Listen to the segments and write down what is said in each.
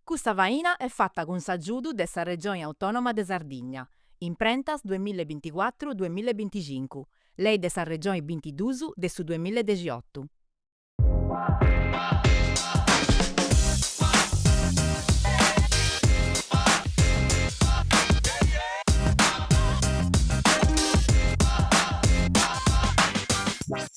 Custa faina est fata cun s'agiudu de sa Regioni Autònoma de Sardigna, Imprentas duamilla e binticuatru duamilla e binticincu, Lei de sa Regioni bintiduus de su duamilla e dexiotu.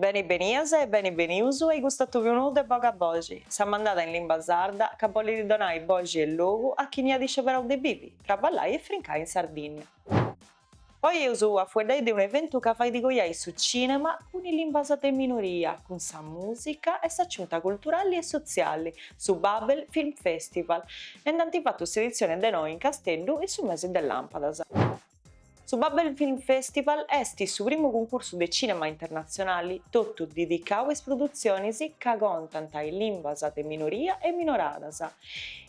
Beni benias e beni benius in custu atòbiu nou de Boga Boxi, sa mandada in limba sarda ca bollit donai boxi e logu a chini at isceberau de bivi, traballai e frincai in Sardigna. Oi eus a fueddai de un'eventu ca fait coiai su cìnema cun is limbas de minoria, cun sa mùsica e s'aciunta culturali e sotziali, su Babel Film Festival, e nd'ant fatu s'editzioni de noi in Casteddu in su mesi de làmpadas. Su Babel Film Festival est su primu cuncursu de cìnema internatzionali totu dedicau a is produtzionis ca contant is limbas de minoria e minoradas.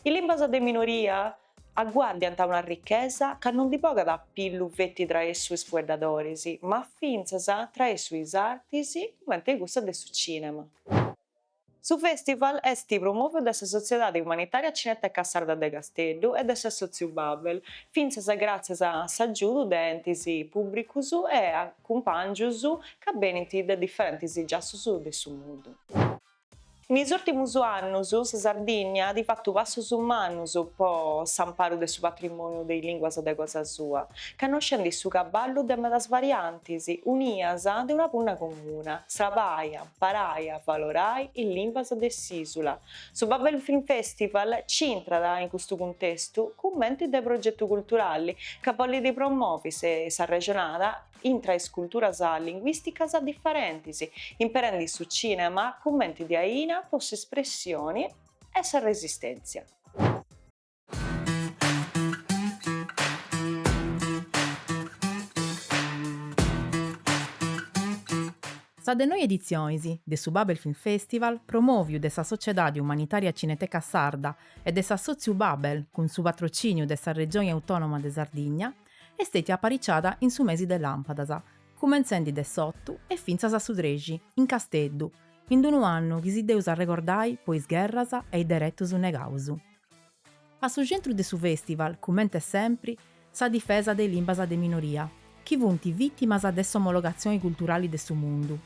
Is limbas de minoria aguàrdiant una arrichesa ca no ndi bogat a pillu feti traessu is fueddadoris, ma fintzas traessu is artis, cumenti cussa de su cìnema. Su fèstival est promòviu de sa Sotziedadi Umanitària Cineteca Sarda de Casteddu e de s'assòtziu Babel, fintzas gràtzias a s'agiudu de entis pùblicus e a cumpàngius ca benint de diferentis giassus de su mundu. In is ùltimus annus sa Sardigna at fatu passus mannus po s'amparu de su patrimòniu de is lìnguas de cosa sua. connoscendi su cabali de medas variantis unias de una punna comuna, srabai, amparai, avalorai is limbas de s'ìsula. Su Babel Film Festival nci intrat in custu cuntestu cumenti de progetu culturali ca bollit promovi s'arrexonada intra is culturas linguìsticas diferentis, imperendi su cìnema cumenti de aina po s'espressioni e sa resistèntzia. Sa de noi editzionis de su Babel Film Festival promòviu de sa Sociedadi Umanitària Cineteca Sarda e de s'Assòtziu Babel cun su patrocìniu de sa Regioni Autònoma de Sardigna est stètia apariciada in su mesi de làmpadas, cumentzendi de s'otu e fintzas a su trexi, in Casteddu, in d-unu annu chi si dd'eus a arregordai po is gherras e is deretus negaus. A su centru de su fèstival, cument'e sempri, sa difesa de limbas de minoria, chi funt vìtimas de s'omologatzioni culturali de su mundu.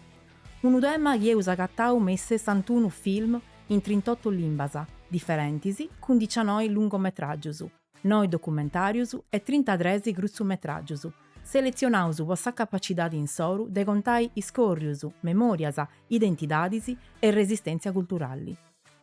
Unu tema chi eus agatau me is sessantunu film in trint'otu limbas diferentis cun dicianoi lungometràgius, noi documentàrius e trintatres crutzumetràgius, seletzionaus po sa capacidadi insoru de contai iscòrrius, memòrias, identidadis e resistèntzia culturali.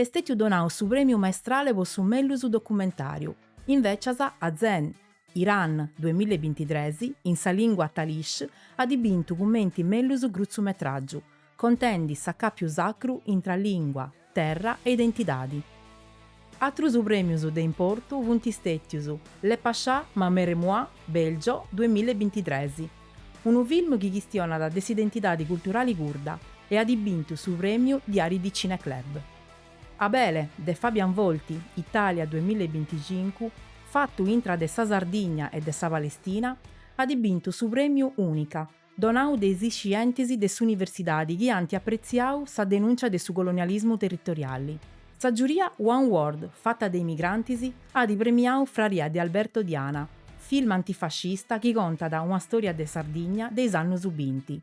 Est stètiu donau su Prèmiu Maestrale po su mellus documentàriu, invècias a Zen, Iran, duemilla e bintitres, in sa lìngua talish, at bintu cumenti mellus grutzumetràgiu, contendi s'acàpiu sacru intra lìngua, terra e identidadi. Atrus prèmius de importu funt stètius Le Pacha, ma mère et moi, Bèlgio, duemilla e bintitres, Unu film chi chistionat de s'identidadi culturali curda e at bintu su prèmiu Diari di Cineclub. Abele, de Fabian Volti, Italia duemilla e binticincu, fatu intra de sa Sardigna e de sa Palestina, at bintu su prèmiu Unica, donau de is iscientis de s'universidadi chi ant apretziau sa denùncia de su colonialismu territoriali. Sa giuria One World, fata de imigrantis, at premiau Fraria de Alberto Diana, film antifascista chi contat una stòria de Sardigna de is annus binti.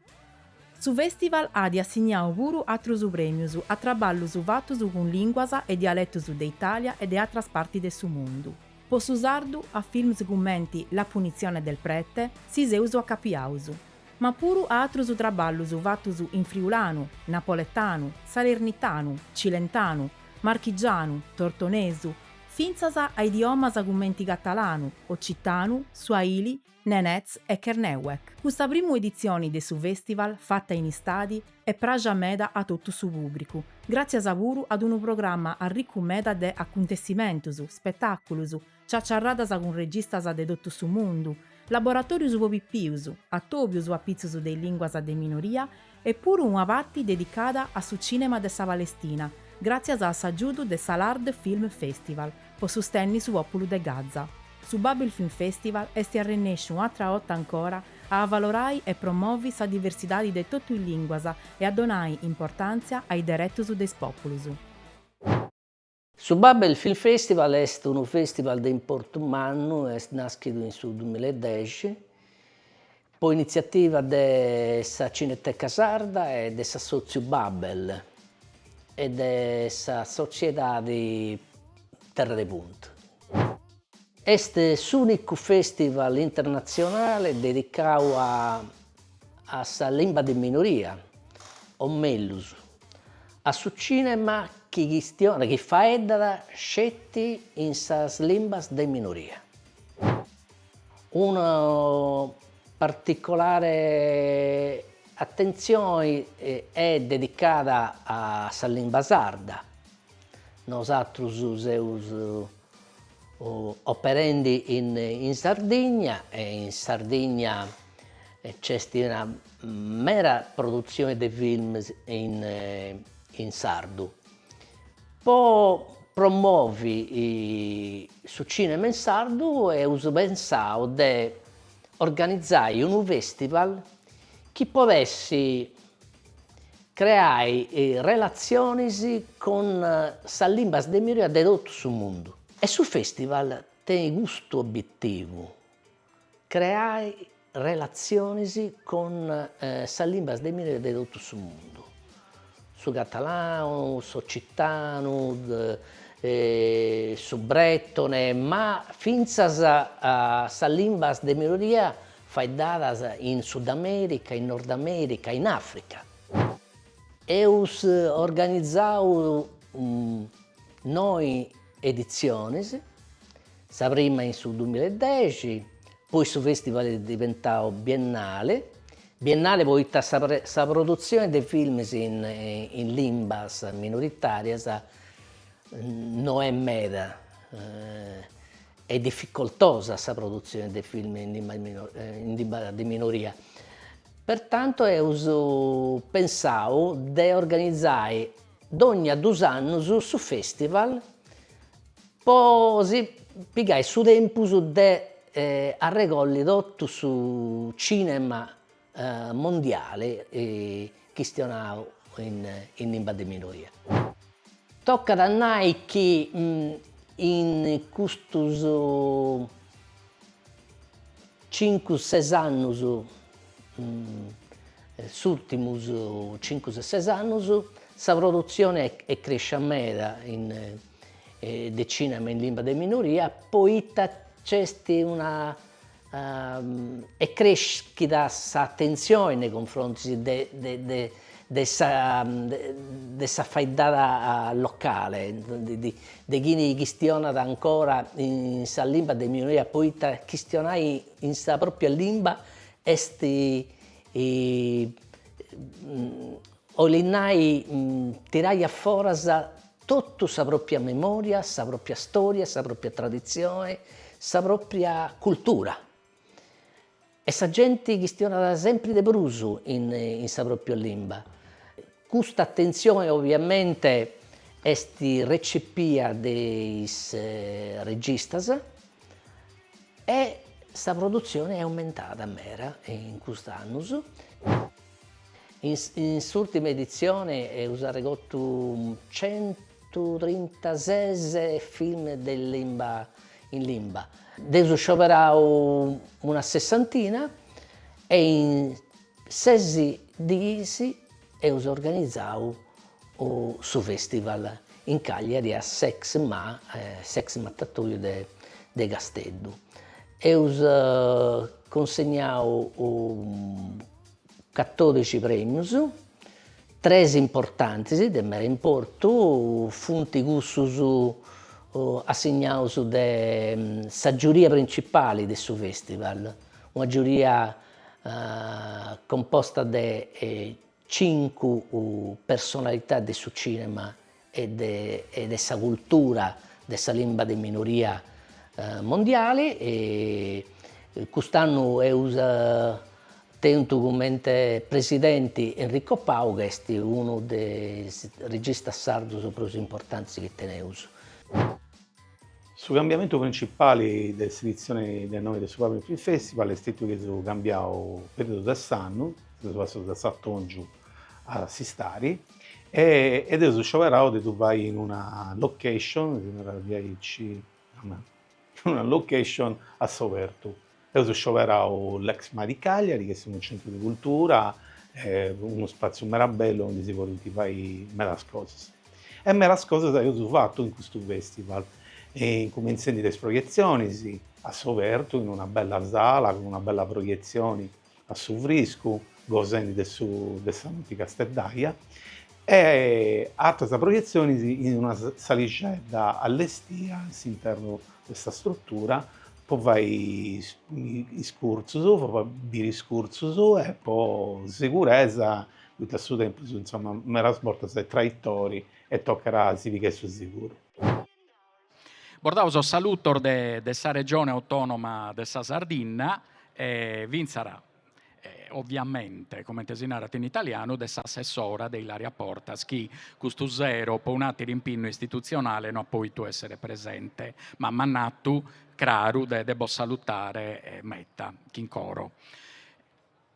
Su fèstival at assignau puru atrus prèmius a traballus fatus cun lìnguas e dialetus de Itàlia e de atras partis de su mundu. Po su sardu, a films cumenti La punizione del prete, si seus acapiaus. ma puru a atrus traballus fatus in friulanu, napoletanu, salernitanu, cilentanu, marchigianu, tortonesu, fintzas a idiomas cumenti catalanu, occitanu, suahili, nenetz e kernewek. Custa primu editzioni de su fèstival fata in istadi est praxia meda a totu su pùbricu, gràtzias puru a unu programma arricu meda de acuntessimentus, spetàculus, ciaciarradas cun registas de totu su mundu, laboratòrius po pipius, atòbius apitzus de is lìnguas de minoria e puru una parti dedicada a su cìnema de sa Palestina, gràtzias a s'agiudu de s'Al-Ard Film Festival po sustenni su pòpulu de Gaza. Su Babel Film Festival est arrennesciu un'atra 'orta ancora a avalorai e promovi sa diversidadi de totu is lìnguas e a donai importàntzia a is deretus de is pòpulus. Su Babel Film Festival est unu festival de importu mannu, est nàschidu in su duamilla e dexi, po initziativa de sa Cineteca Sarda e de s'assòtziu Babel e de sa sotziedadi Terra de Punt. Est s'ùnicu festival internatzionale dedicadu a sa limba de minoria, o mellus, A su cinema chi chist chi faeddat sceti in sas limbas de minoria. Una particolare atentzioni est dedicada a sa limba sarda. Nosatrus seus Operendi in Sardigna e in Sardigna nc'est una mera produtzione de films in sardu. Po promovi su cinema in sardu eus pensadu de organizai unu festival chi podessi Creai relatzionis cun sas limbas de minoria de totu su mundu. E su fèstival tenit custu obitivu, creai relatzionis cun sas limbas de minoria de totu su mundu, su catalanu, s'ocitanu, su bretone, ma fintzas sas limbas de minoria Faeddadas in Sudamèrica, in Nordamèrica, in Àfrica. Eus organizau noi editzionis, sa prima in su duamilla e dexi, poi su fèstival est diventau biennale, biennale poita sa sa produtzioni de films in in limbas minoritàrias no est meda Est dificoltosa sa produtzione de film in limba in limba de minoria, pertanto eus pensau de organizai dònnia duus annus su festival po si pigai su tempus de arregolli totu su cinema mondiale chistionau in limba de minoria. Tocat a nai chi in custus cincu ses annus, is ùrtimus cincu ses annus, sa produzione est crescia meda de cinema in limba de minoria poita nc'est una Est crèschida s'atentzione nei cunfrontis de sa faeddada locale, de chini chistionat ancora in sas limbas de minoria poita chistionai in sa propria limba est olit nai tirai a foras Totu sa pròpia memòria, sa pròpia stòria, sa pròpia traditzione, sa pròpia cultura. E sa genti chistionat sempri de prus in in sa pròpia limba. Custa atentzione oviamente est recepia de is registas e sa produtzione est aumentada meda in cust'annus. In s'ùrtima editzione eus arregotu centutrintases film de limba in limba. Nd'eus scioberau una sessantina e in ses diis eus organizau su fèstival in Cagliari a s'Exma s'ex matatoiu de Casteddu. Eus cunsignau Catòdici prèmius, tres importantes, de meda importu, funt cussus assignaus de sa giuria principale de su fèstival, una giuria composta de cincu personalità de su cìnema e de sa cultura de sa limba de minoria mondiale, cust'annu eus tentu comente presidenti Enrico Pau chi est unu de is registas sardus prus importantis chi teneus. Su cambiamentu principali de s'editzioni de noi de su Babel Film Festival est stetiu chi eus cambiau periodu de s'annu, seus passaus de s'atòngiu a s'istadi, E eus scioberau de ddu fai in una location, si narat diaici, in una location a s'obertu. Eus scioberau l'Exma di Cagliari, chi est unu centru de cultura, unu spaziu meda bellu aundi si podint fai medas cosas. E medas cosas eus fatu in custu festival, incumentzendi de is proietzionis a s'obertu in una bella sala cun una bella proietzioni a su friscu, gosendi de su de sa noti casteddaja e atras proietzionis in una salixedda allestia in s'internu de sa strutura po fai is curtzus, po fai biri is curtzus e po seguresa poita su tempus insoma medas bortas est traitori e tocat a si pigai su seguru. Bos dao sos salutos de de sa Regione Autonoma de sa Sardinna e finzara ovviamente, comente si narat in italianu, de s'assessora de Ilaria Portas chi custu sero po un'ateru impinnu istitutzionale no at poitu essere presente, ma m'at natu craru de de bos salutare meta, chin coro.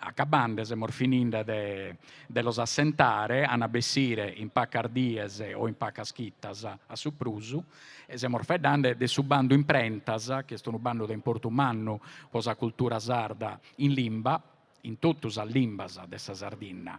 Acabande semus fininde de los assentare, an a bessire in pacas dies o in pacas chitas a su prus, e semus faeddande de su bandu Imprentas, chi est unu bandu de importu mannu po sa cultura sarda in limba, in totu sas limbas de sa Sardinna,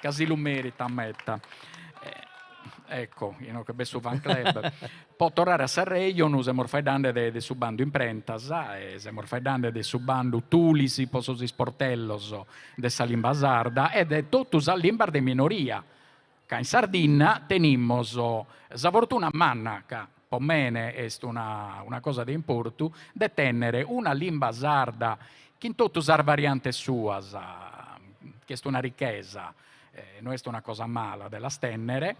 ca si lu meritat meta. Ecco, inoche b'est su fan club. Po torrare a s'arrejonu, semus faeddande de su bandu imprentas e semos faeddande de su bandu Tulis po sos isportellos de sa limba sarda e de totu sas limbas de minoria, ca in Sardinna tenimos sa fortuna manna, ca po mene est una una cosa de importu, de tenner una limba sarda chin totu sas variantes suas, chi est una ricchesa, no est una cosa mala de las tenner,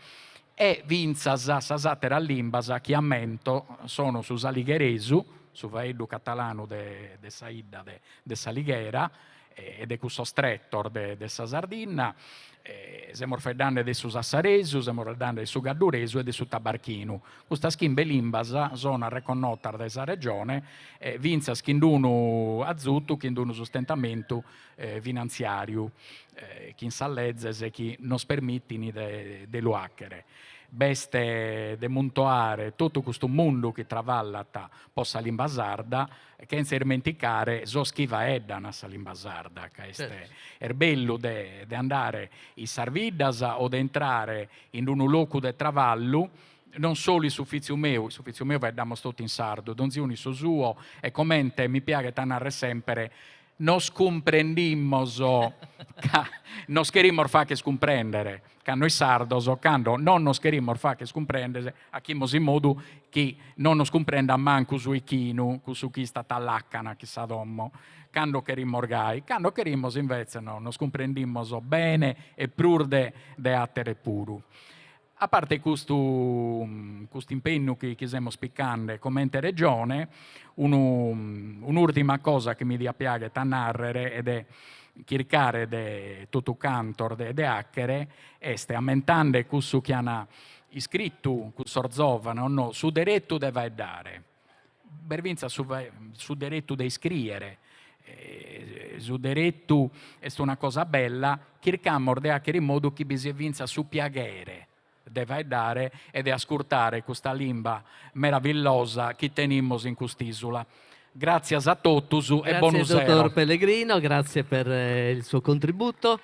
e fintzas sas atteras limbas chi ammento sono su saligheresu, su faeddu catalanu de de sa 'idda de de s'Alighera, e de cussos tretos de sa Sardinna, semos faeddande de su sassaresu, semos faeddande de su cadduresu e de su tabarchinu, custas chimbe limbas sono arreconnotas dae sa Regione fintzas chin d-unu azutu, chin d-unu sustentamentu finantziàriu, chin sas lezes chi nos permitin de lu àchere. B'est de muntoare totu custu mundu chi travallat po sa limba sarda, E chentza ismenticare sos chi faeddan sa limba sarda, ca est est bellu de de andare in sas biddas o de intrare in unu locu de travallu, non solu in s'ufìtziu meu, in s'ufìtziu meu faeddamos totu in sardu, donzi unu in su suo e comente mi piaghet a narrer semper, Nos cumprendimos ca nos cherimos facher cumprèndere, ca nois sardos cando non nos cherimos facher cumprèndere achimos in modu chi non nos cumprendat mancu su 'ichinu, cussu chi istat a làcana chin sa domo, cando cherimos gai, cando cherimos invetze no, nos cumprendimos bene e prus de àtere puru. A parte custu custu impennu chi chi semos picande comente Regione, unu un'ùrtima cosa chi mi diat piaghere a nàrrere e de chircare de totu cantos de de àchere est, ammentande cussu chi an iscritu cussos zòvanos, no, su deretu de faeddare. B'est fintzas su su deretu de iscrìere, su deretu est una cosa bella, chircamos de àchere in modu chi bi siat fintzas su piaghere de faeddare e de ascurtare custa limba meravillosa chi tenimos in cust'ìsula. Gràtzias a totus e bonu sero. Grazie dottor Pellegrino, grazie per il suo contributo.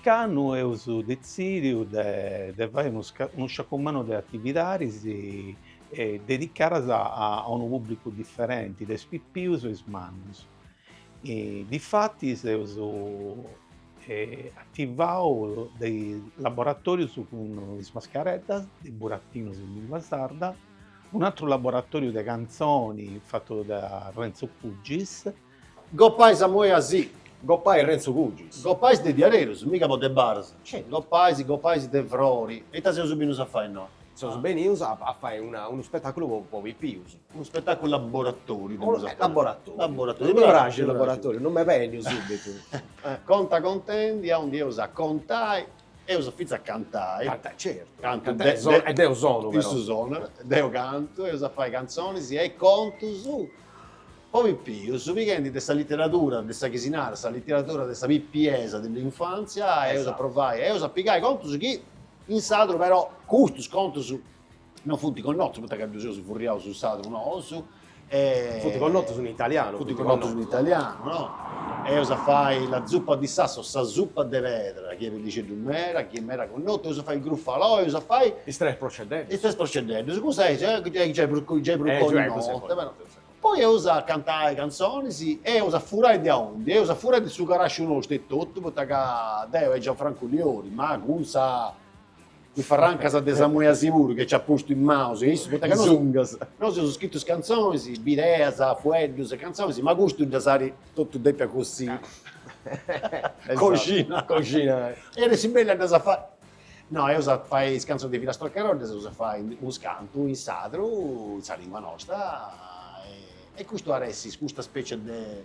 Ocannu eus detzìdiu de fai unu sciacu mannu de atividadis dedicadas a unu pùblicu diferenti de is pipius e is mannus. Difati seus ativau de laboratorius cun is mascareddas de Buratinos in lingua sarda, un'atru laboratoriu de cantzoni fatu da Renzo Cugis. Goppais Samuele Dessì. Goppais Renzo Cugis. Goppais de diarerus, miga po de baras. Goppais, goppais de frori. E ita seus benius a fai innoi? Seus benius a fai unu spetaculu po pipius. Unu spetàculu laboratoriu, depimus aterus. Laboratoriu. Laboratoriu. Mi praxit laboratoriu, non m'est bènniu subitu. Conta contendi, aundi eus a contai, eus fintzas a cantai. Cantai, certu. Cantu deu. E deu sonu, però. Issu sonat, deu cantu, eus a fai cantzonis e contus po pipius, pighendi de sa literadura, de sa chi si narat sa literadura de sa pipiesa, dell'infanzia, eus a provai, eus a pigai contus chi in sadru, però, custus contus. No funt connotus poita ca ddus eus furriau in sadru nosu e. Funt connotus in italianu. Funt connotus in italianu, no. Eus a fai la zuppa di sasso o sa supa de pedra, chi est bellixeddu meda, chi est meda connotu, eus a fai il Gruffalò, eus a fai. Is tres proceddeddus. Is tres proceddeddus, cussa est giai prus connota. Poi eus a cantai cantzonis e eus a furai de aundi, eus a furai de su carasciu nostru etotu, poita ca deu e Gianfrancu Liori, ma cun sa. is farrancas de Samuele seguru chi nc'at postu in maus e issu, poita ca nosu nosu seus scritus cantzonis, bideas, fueddus e cantzonis, ma custu ddas at totu dèpias così coxinai coxinai e de su bellu a ddas fai, no, eus a fai is cantzonis de Filastrocche'n'roll ddas eus a fai unus cantu in sadru, in sa lingua nosta e custu at essi custa specie de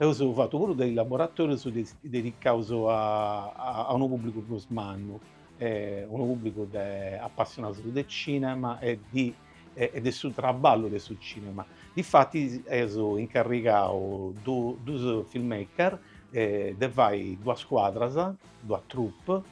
Eus fatu puru de is laboratorius dedicaus a unu pubblicu prus mannu, unu pubblicu de apassionaus de cinema e de su traballu de su cinema. Difatis eus incarrigau dus filmmaker de fai duas scuadras, duas troupe,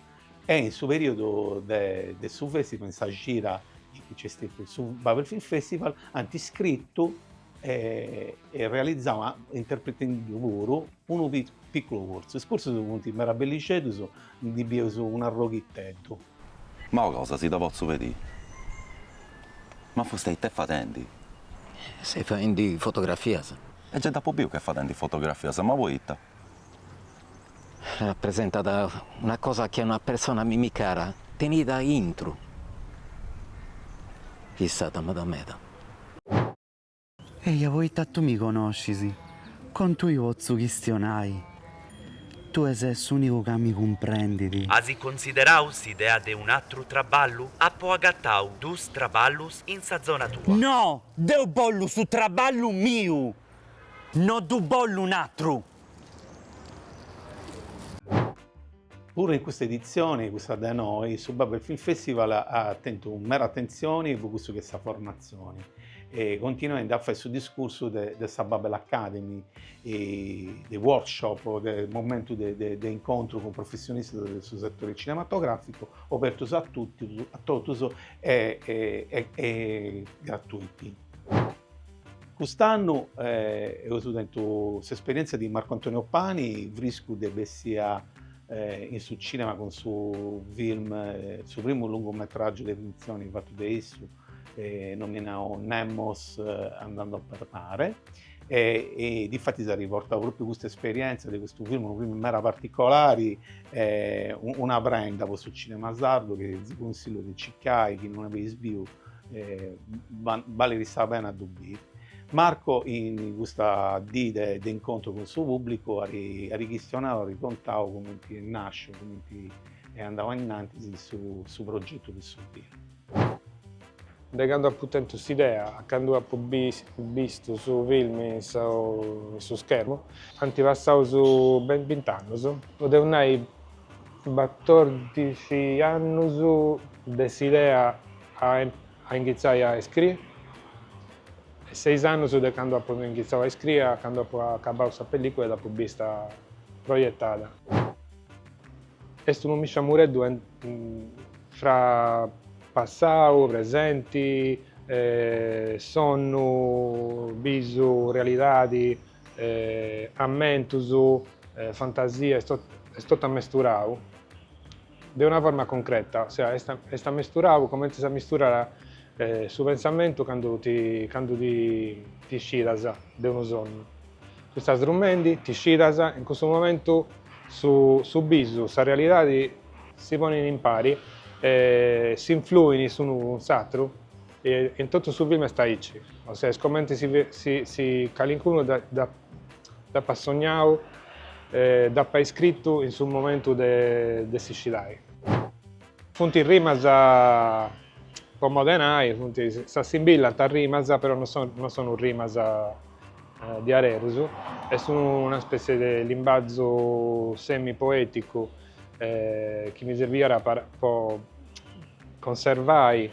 e in su periudu de su festival, in sa cira chi nc'est stetiu su Babel Film Festival, ant scritu e e realizau interpretendu puru unu picculu curtzu, is curtzus funt meda bellixeddus, ndi bieus un'arroghiteddu. Ma ua cosa si dda potzu pedì? Ma fustei ita est fadendi? Seu faendi fotografias. E gei dd'apu biu ch'est fadendi fotografias, ma poita? Rapresentat una cosa chi una persona a mimi cara tenit a intru, fissat meda meda. Eja poita tui mi conoscis, cun tui potzu chistionai, tui ses s'unicu ca mi cumprendit. As considerau s'idea de un'atru traballu? Apo agatau duus traballus in sa zona tua. No! Deu bollu su traballu miu! No ddu bollu un'atru! Puru in custa editzioni, cussa de noe, su Babel Film Festival at tentu meda atentzioni po cussu chi est sa formatzioni e continuendi a fai su discursu de sa Babel Academy, de workshop, de momentu de incontru cun professionistas de su setore cinematogràficu, obertos a totus e gratuiti. Cust'annu eus tentu s'esperièntzia de Marco Antonio Pani, friscu de bèssia in su cìnema cun su film, su primu lungu metràgiu de fintzioni fatu de issu, nominau Nemos andando per mare, e difatis at riportau pròpriu custa esperièntzia de custu film, unu film meda particolari, una prenda po su cìnema sardu chi si cunsillu de circai chi non dd'eis biu balit sa pena a ddu biri. Marco in custa dì de incontru cun su pùblicu at chistionau, at contau cumenti est nàsciu, cumenti est andau a innantis su progetu de su filmu. De candu apu tentu s'idea a candu apu bistu su filmu in su schermu, ant passau ben bint'annus, podeus nai, Batòrdixi annus de s'idea a inghitzai a iscrii e seis annus de candu apu inghitzau a iscrii a candu apu acabau sa pellicula e dd'apu bista proietada. Est unu misciamureddu fra passau, presenti, sonnu, bisu, realidadi. ammentus, fantasia, est est totu ammesturau de una forma concreta, ossia est est ammesturau comente s'ammisturat su pensamentu candu ti candu ti ti iscidas de unu sonnu. Tu istas drumendi, ti iscidas e in cussu momentu su su bisu, sa realidadi si ponin impari e s'influin s'unu cun s'atru E in totu su filmu est aici, o sea, est comenti si calincunu dd'apat sognau e dd'apat iscritu in su momentu de si scidai. Funt rimas po modi 'e nai, funt, s'assimbillant a rimas, però non sono rimas diarerus, est una spessie de limbazu semi-poeticu chi mi sirbiat po Conservai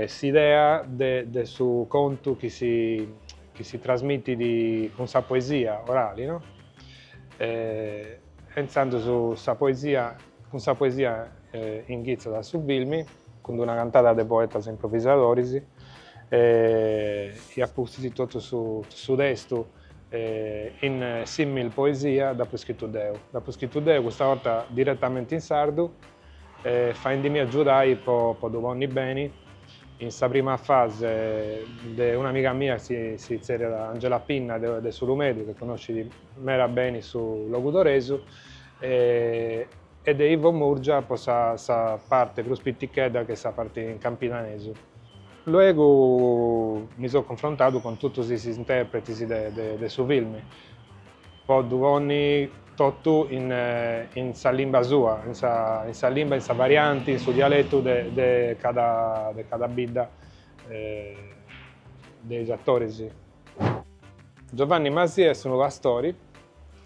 s'idea de su contu chi si trasmitit cun sa poesia orali, no? E intzandus sa poesia, cun sa poesia inghitzat a su filmi, cun una cantada de poetas improvisadoris, e a pustis totu su testu in simil poesia dd'apu scritu deu, dd'apu scritu deu, custa 'orta diretamenti in sardu E faendimi agiudai po ddu ponni beni, in sa prima fase de un'amiga mia chi si tzerriat Angela Pinna de S'Ulumedu, chi connoscit meda beni su logudoresu, e de Ivo Murgia po sa parte prus pitichedda chi est sa parte in campidanesu. Luegu mi seu cunfrontadu cun totus is interpretis de su filmi. po ddu ponni totu in sa limba sua, in sa limba, in sa varianti, in su dialetu de cada bidda de is atoris. Giovanni Masia est unu pastori,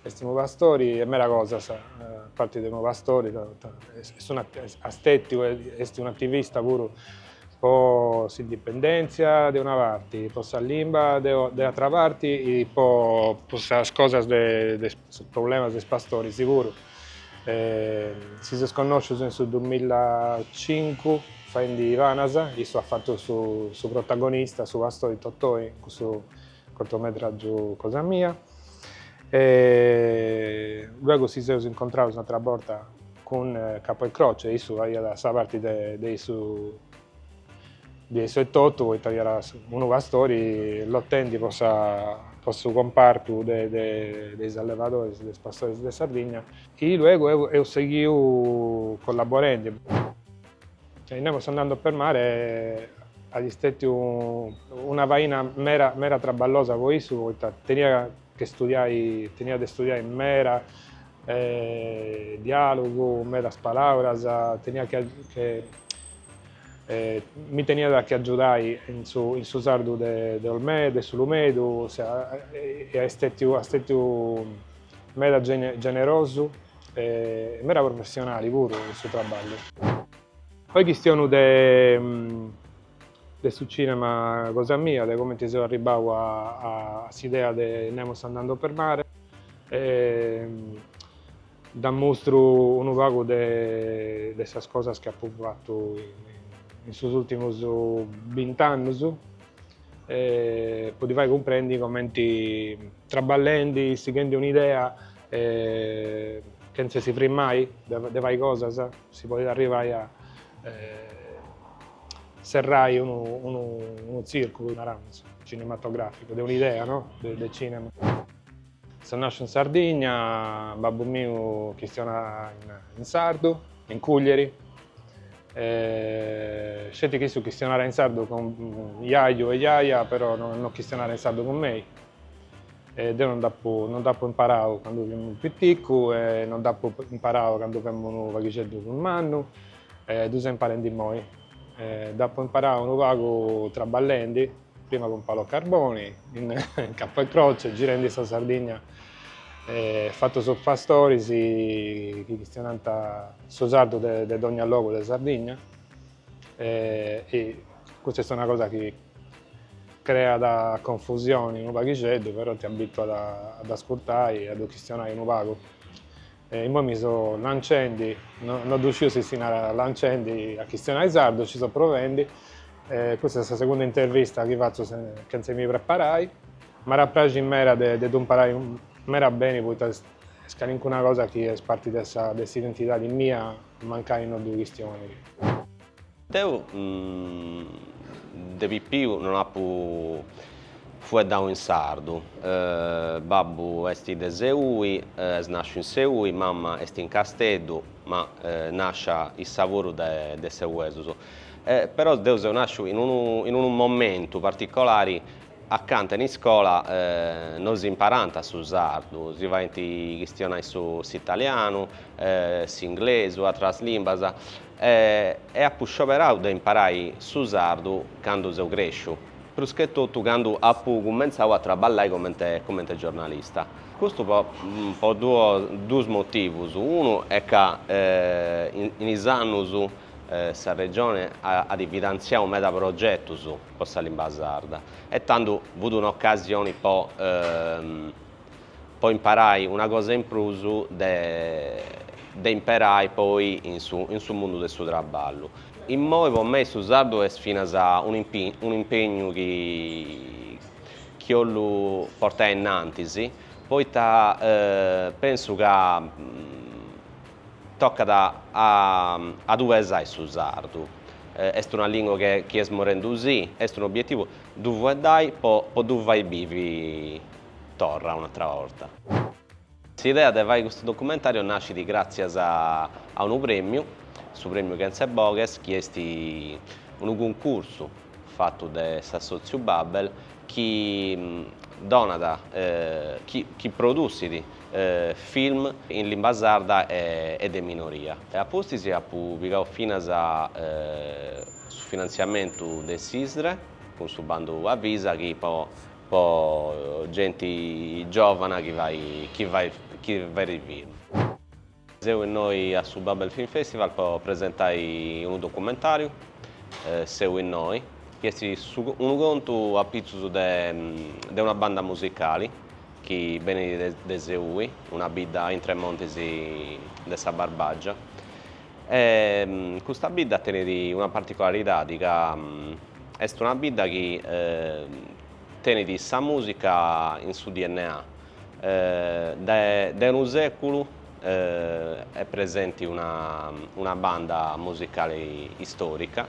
est unu pastori e meda cosas, a parti de unu pastori est unu esteticu, est un'ativista puru po s'indipendèntzia de una parti, po sa limba de atra parti e po sas cosas de sos problemas de is pastoris puru. Si seus connoscius in su duamillatzincu faendi Panas, issu at fatu su protagonista, su pastori Totoi in cussu Cortometràgiu cosa mia. E luego si seus incontrados un'atra borta cun Capo e Croce, issu faghiat sa parti de de issu de issu etotu, poita fiat unu pastori lotendi po sa po su compartu de de de is allevadoris, de is pastoris de Sardigna. E luego eus seghiu collaborendi. E in Nemos andando per mare at stetiu una faina mera mera traballosa po issu poita tenia che studiai tenia de studiai mera dialogu medas palauras tenia che che mi teniat che agiudai in su in su sardu de de Olmedo de S'Ulumedu e a stetiu a stetiu meda generosu E meda professionali puru su traballu. Poi chistionu de de su cinema cosa mia, de comenti seu arribbau a s'idea de Nemos andando per mare, dd'ammustru unu pagu de de sas cosas chi apu fatu in sos ultimus bint'annus e po ddi fai cumprendi comenti trabballendi, sighendi un'idea E chentze si frimmai de fai cosas si podit arrivai a serrai unu tzìrculu, naramus, cinematograficu, de un'idea de cinema. Seu nàsciu in Sardigna, babbu miu chistionat in sardu, in Cùglieri, sceti chi issu chistionàt in sardu cun jaju e jaja, però no chistionàt in sardu cun mei. E deu non dd'apu, non dd'apu imparau candu fimu piticu e non dd'apu imparau candu femu unu paghixeddu prus mannu, ddu seu imparendi immoi. Dd'apu imparau unu pagu traballendi, prima cun Paolo Carboni, in Capo e Croce, girendi in sa Sardigna, fatu sos pastoris chi chistionant su sardu de dogna logu de Sardigna. E, e custa est una cosa chi creat confusioni unu paghixeddu, però ti abituat a dd'ascurtai e a ddu chistionai unu pagu. E immoi mi so lancendi, no, no ddu sciu si si narat lancendi a chistionai sardu, nci so provendi. E custa est sa segunda intervista chi fatzu chentza mi preparai. M'iat a praxi meda de ddu imparai meda beni poita est calincuna cosa chi est parti de sa, de s'identidadi mia Mancai no ddu chistionit. Deu de pipiu non apu fueddau in sardu. Babbu est de Seui, est nàsciu in Seui, mama est in Casteddu, ma nàscia issa puru de seuesus. Però deu seu nàsciu in unu momentu particolari A canta in iscola non si imparàt su sardu, si faint chistionai su s'italianu, s'inglesu, atras limbas, e apu scioberau de imparai su sardu candu seu cresciu, pruschetotu candu apu cumenzau a traballai comente comente giornalista. Custu po po du duus motivus, unu est ca in in is annus sa Regione at at finantziau meda progetus, po sa limba sarda e tandu fut un'ocasioni po po imparai una cosa in prus de de imperai poi in su in su mundu de su traballu. Immoi po mei su sardu est finas un'impegnu chi chi 'ollu portai innantis poita pensu ca Tocat a a ddu pesai su sardu. Est una lìngua che chi est morrendu si, est un'obietivu ddu fueddai po po ddu fai bivi torra un'atra borta. S'idea de fai custu documentàriu nascit gràtzias a a unu prèmiu, su prèmiu Kentzeboghes, chi est unu cuncursu fatu de s'assòtziu Babel, chi donat, chi produsit film in limba sarda e de minoria. A pustis apu pigau finas su finantziamentu de s'ISDRE, cun su bandu Avisa, chi po genti giòvana chi fait film. Seu innoi a su Babel Film Festival po presentai unu documentàriu, Seu innoi, chi est unu contu a pitzus de una banda musicali chi benit de Seui, una bidda intre is montis de sa Barbàgia. E custa bidda tenit una particolaridadi, ca est una bidda chi tenit sa mùsica in su DNA. De unu sèculu est presenti una banda musicale istòrica,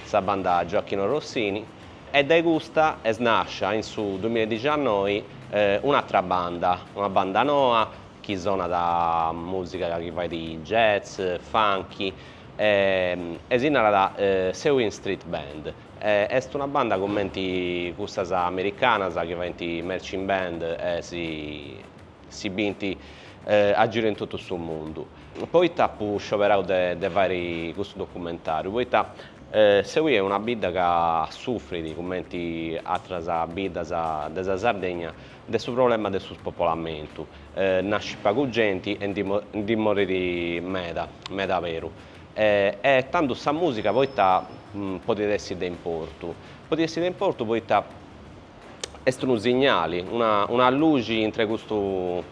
sa Banda Gioachino Rossini, e dae custa est nàscia in su duimilla e diciannoi un'atra banda, una banda noa chi sonat mùsica chi fait jazz, funky e si narat Seuin Street Band. Est una banda cumenti cussas americanas chi faint marching band e si bint a giru in totu su mundu. Poita apu scioberau de fai custu documentàriu? Poita Seui est una bidda ca sufrit, cumenti atras biddas de sa Sardegna, de su problema de su spopolamentu, nascit pagu genti e ndi morit meda, meda aberu. E tandu sa mùsica poita podit essi de importu? Podit essi de importu poita est unu signali, una luxi intre custu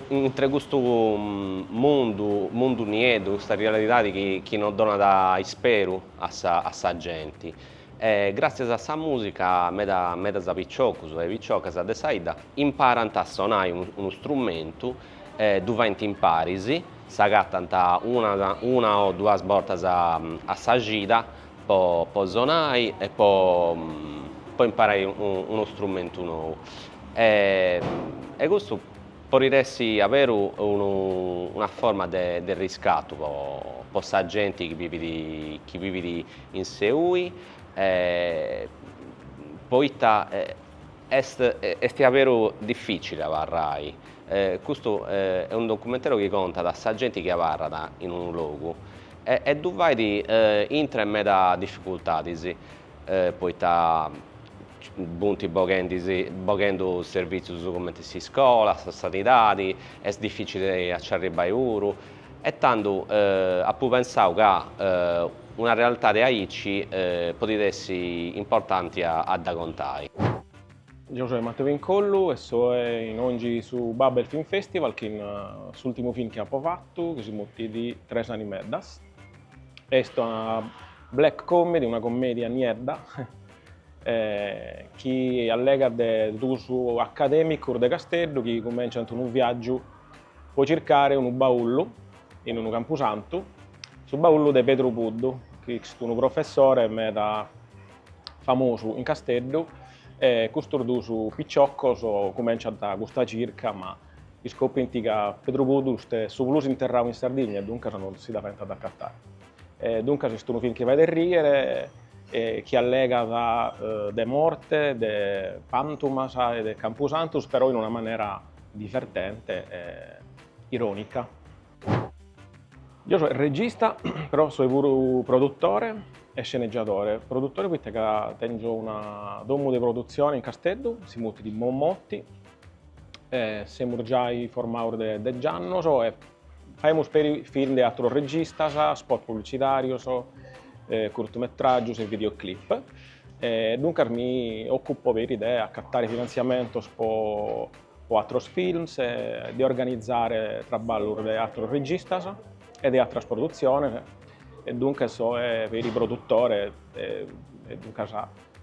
intre custu mundu, mundu nieddu, custa realidadi chi non donat isperu a sa genti. E gràtzias a sa mùsica meda medas piciocos e piciocas de sa 'idda imparant a sonai unu strumentu, ddu faint imparis, s'agatant una una o duas bortas a sa cida po po sonai e po po imparai unu strumentu nou. E custu podit essi a beru unu una forma de de riscatu po po sa genti chi bivit chi bivit in Seui poita est est diaberu dificili abarrai custu est unu documentàriu chi contat sa genti chi abarrat in unu logu e ddu fait intre meda dificultadis poita funt boghendu servìtzius cumenti s'iscola sa sanidadi est dificili a nci arribai puru E tando apo pensadu ca una realtade aici podit essi importanti a dda contai. Geo soe Matteo Incollu e soe inongi su Babel Film Festival chin s'ultimu film chi apo fatu chi si mutit Tres animeddas. Est una black comedy, una commedia niedda chi allegat de duus academicus de Casteddu chi cumenciant unu viaggiu Po circare unu baullu in unu campusantu, su baullu de Pedru Puddu, chi est unu professore meda famosu in Casteddu e custos duus piciocos cumenciant custa circa ma iscoprint ca Pedru Puddu est su plus interrau in Sardigna e duncas non si dda faent a dd'acatare. E duncas est unu film chi faet arrìere e chi allegat de morte, de pantumas e de campusantus però in una manera Divertente e irònica. Deo soe regista, però soe puru produtore e scenegiadore. Produtore poite ca tèngio una domu de produtzione in Casteddu, si mutit Mommotty, e semus giai formaus de dege annos e Faemus peri film de àteros registas, spot publitzitàrios, curtumetràgios e videoclip. Duncas mi òcupo peri de acatare finantziamentos po àteros films, de organizare traballos de àteros registas e de àteras produtziones, e duncas so peri produtore e duncas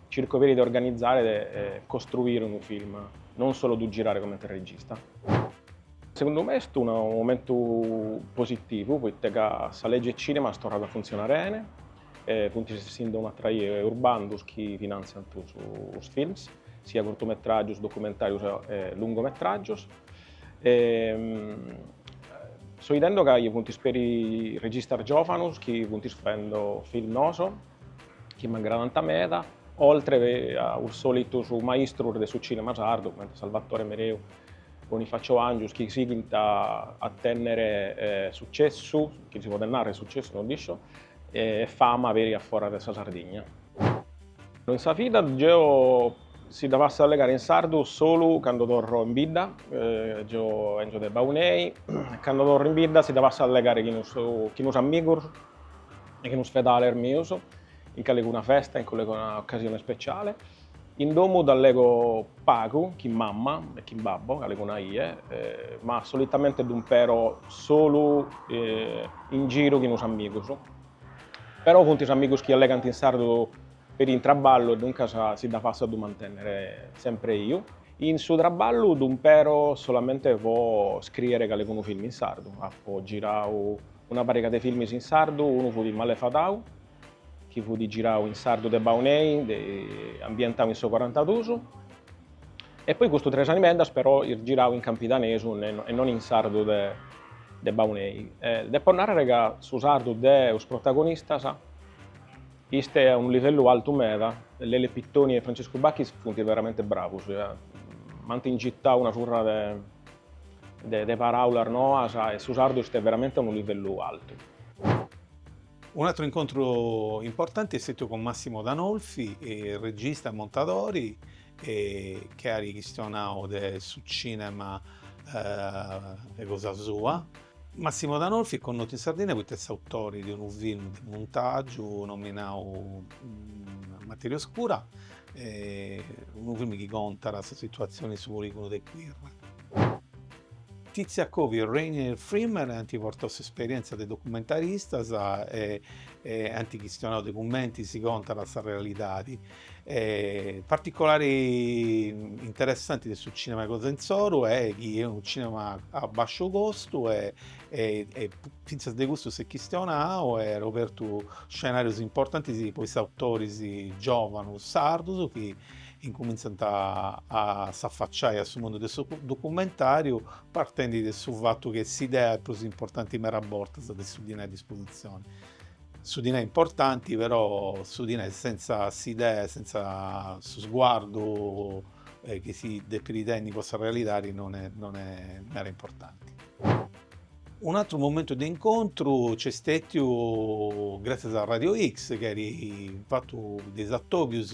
circo peri de organizare e costruire unu film, non solu ddu girare comente regista. Segundu me est unu momentu positivu poite ca sa lege cinema est torrada a funtzionare bene e funtis essindo un'atra 'ia us bandus chi finantziant us films, sia curtumetràgius, documentàrius e lungometràgius. So 'idendo ca funtis peri registas giòvanus chi funtis faendo films noos. chi m'agradant meda, oltre a us solitus maistrus de su cinema sardu, cumenti Salvatore Mereu, Bonifacio Angius, chi sighint a tènnere sucessu, chi si podet nàrrere sucessu, no dd'iscio, e fama peri a foras de sa Sardigna. In sa vida deo si dda fatzo a allegare in sardu solu cando torro in bidda, deo 'enzo de Baunei, e cando torro in bidda si dda fatzo a allegare chin us amigos, chin us fedales mius, in calicuna festa, in calicuna occasione speciale. In domu dd'allego pagu, chin mamma e chin babbo, calicuna ie, ma solitamente ddu impero solu in giru chin us amigus. Però funt us amigus chi allegant in sardu peri in traballu e duncas si dda façu a ddu mantennere sempre biu. In su traballu ddu impero solamente po scriere calicunu filmu in sardu. Apu girau Una pariga de filmis in sardu, unu fut Malefadau, chi fut girau in sardu de Baunei, ambientau in su corantadus, e poi custu Tres animeddas però ist girau in campidanesu e non in sardu de Baunei. Depo narrere ca su sardu de us protagonistas ist a unu livellu altu meda, Lele Pittoni e Franciscu Bachis funt veramente bravus, m'ant ingitau una surra de De paràulas noas e su sardu est veramente a unu livellu altu. Un'atru incontru importanti est stetiu cun Massimo D'Anolfi, regista e montadori, chi at chistionau de su cinema 'e cosa sua. Massimo D'Anolfi est connotu in Sardigna poita est s'autori de unu film de muntàgiu nominau Materia Oscura, unu film chi contat sa situatzioni in su poligonu de Quirra. Tizza Covi e Rainer Frimmel ant portau s'esperièntzia de documentaristas e ant chistionau de cumenti si contat sa realidadi E particolari interessanti de su cinema 'e cosa insoru è chi è unu cinema a basciu costu e e e finzas de custu s'est chistionau e at obertu scenarios importantis po is autoris giovanos sardus chi incuminzant a a s'affacciai a su mundu de su documentariu partendi de su fattu chi est s'idea prus importanti meda bortas de su dinai a disposizioni Su dinai è importanti, però su dinai senza s'idea, senza su sguardu eh, chi si depit tenni po sa realidadi non è, non è mera importanti. Un atru momentu de incontru c'est stètiu gràtzias a Radio X, chi at fatu de is atòbius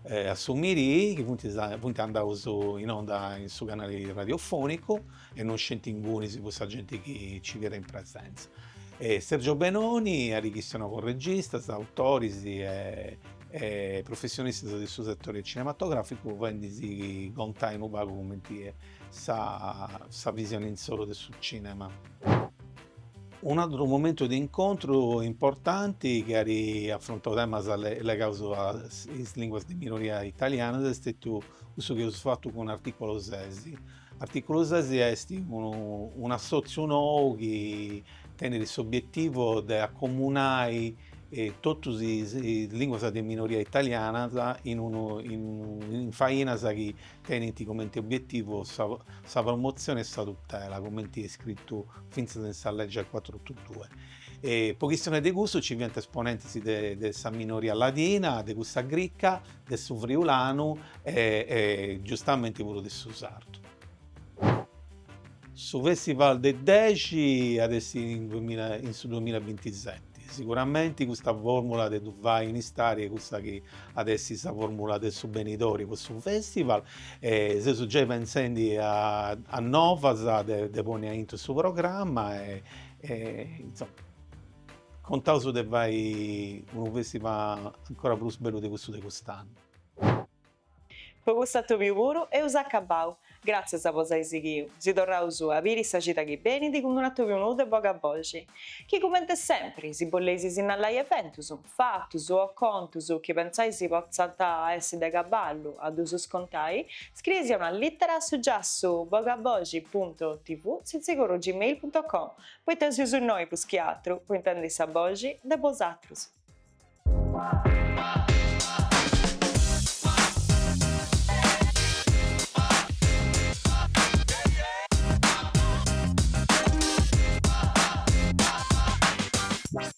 eh, a su Mirii, chi funt, funt andaus in onda in su canali radiofònicu, e non sceti ingunis po sa genti chi nci fiat in presenza. Sergio Benoni at chistionau cun registas, autoris e professionistas de su setore cinematogràficu faendi-sì contai unu pagu cumenti est sa visione insoru de su cinema. Un'àteru momentu de incontru importanti chi at afrontau temas legaus a is lìnguas de minoria italianas est stetiu cussu chi eus fatu cun Articolo Sesi, Artìculu ses est un'assòtziu nou chi tenet s'obietivu de acomunai totus is lìnguas de minoria italianas in fainas chi tenent comenti obietivu sa promotzione e sa tutela, comenti est scritu fintzas in sa lege cuatru otu dus. Po chistione de cussu nci fiant esponentes de sa minoria ladina, de cussa grica de su friulanu e e giustamenti puru de su sardu. Su festival de dexi at essi in duemila in su duemila e bintiseti, siguramenti custa formula de ddu fai in istadi custa chi at essi sa formula de su benidori po su festival e seus giai pensendi a a novas de de ponni aintru in su programma e e insomma. Contaus de fai unu festival ancora prus bellu de custu de cust'annu. Po custu atòbiu puru eus acabau. Gràtzias po s'ai sighiu. Si torraus a biri sa cida chi benit cun un'atòbiu nou de Bogaboxi. Chi cumenti sempri, si boleis sinnalai eventus. Fatus o contos chi pensais potzant essi de cabali a ddus contai, scrieisì una lìtera a su giassu bogaboxi punto tv sitzigorru gmail punto com, poita seus innoi prus chi atru po intendi sa boxi de bosatrus.